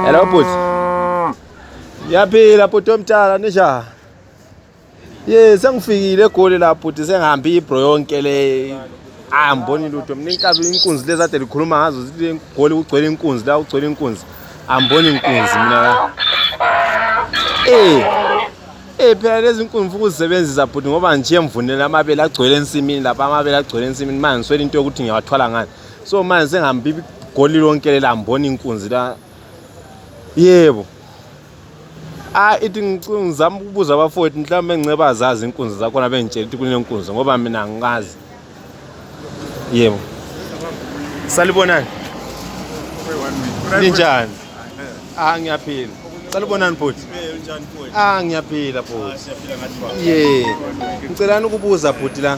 Hello bhuti. Ngiyaphila bhuti omdala ninjani? Ye sengifikile egoli la bhuti sengihambe ibro yonke le. Ah ngibona lutho mina inkabi inkunzi lezi ade likhuluma ngazo zithi egoli kugcwele inkunzi la kugcwele inkunzi. Angiboni inkunzi mina la. Eh. Eh phela lezi inkunzi mfuku uzisebenzisa bhuti ngoba nje mvunela amabele agcwele ensimini lapha amabele agcwele ensimini manje ngiswele into yokuthi ngiyawathwala ngani. so manje sengihambe igoli lonke lela ngibona inkunzi la yebo ah ithi ngizama ukubuza abafowethu mhlawumbe ngiceba azazi inkunzi zakhona bengitshela ukuthi kunenkunzi ngoba mina angikazi yebo salibonani ninjani ah ngiyaphila salibonani bhuti ah ngiyaphila bhuti ye ngicelani ukubuza bhuti la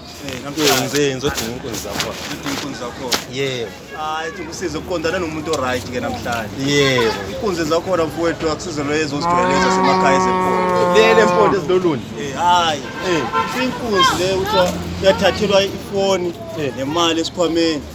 Nkunzi, ngizodinga inkunzi zakhona. Udinga inkunzi zakhona. Yebo. Hayi, ethi kusize ukuqondana nomuntu o-right ke namhlanje. Yebo. Inkunzi zakhona mfowethu akusize loyo ezozijwayeleza semakhaya ezemfundo. Lele mpondo ezilolunye. Eh, hayi. Eh. Inkunzi le uthiwa yathathelwa ifoni Eh. nemali esikhwameni.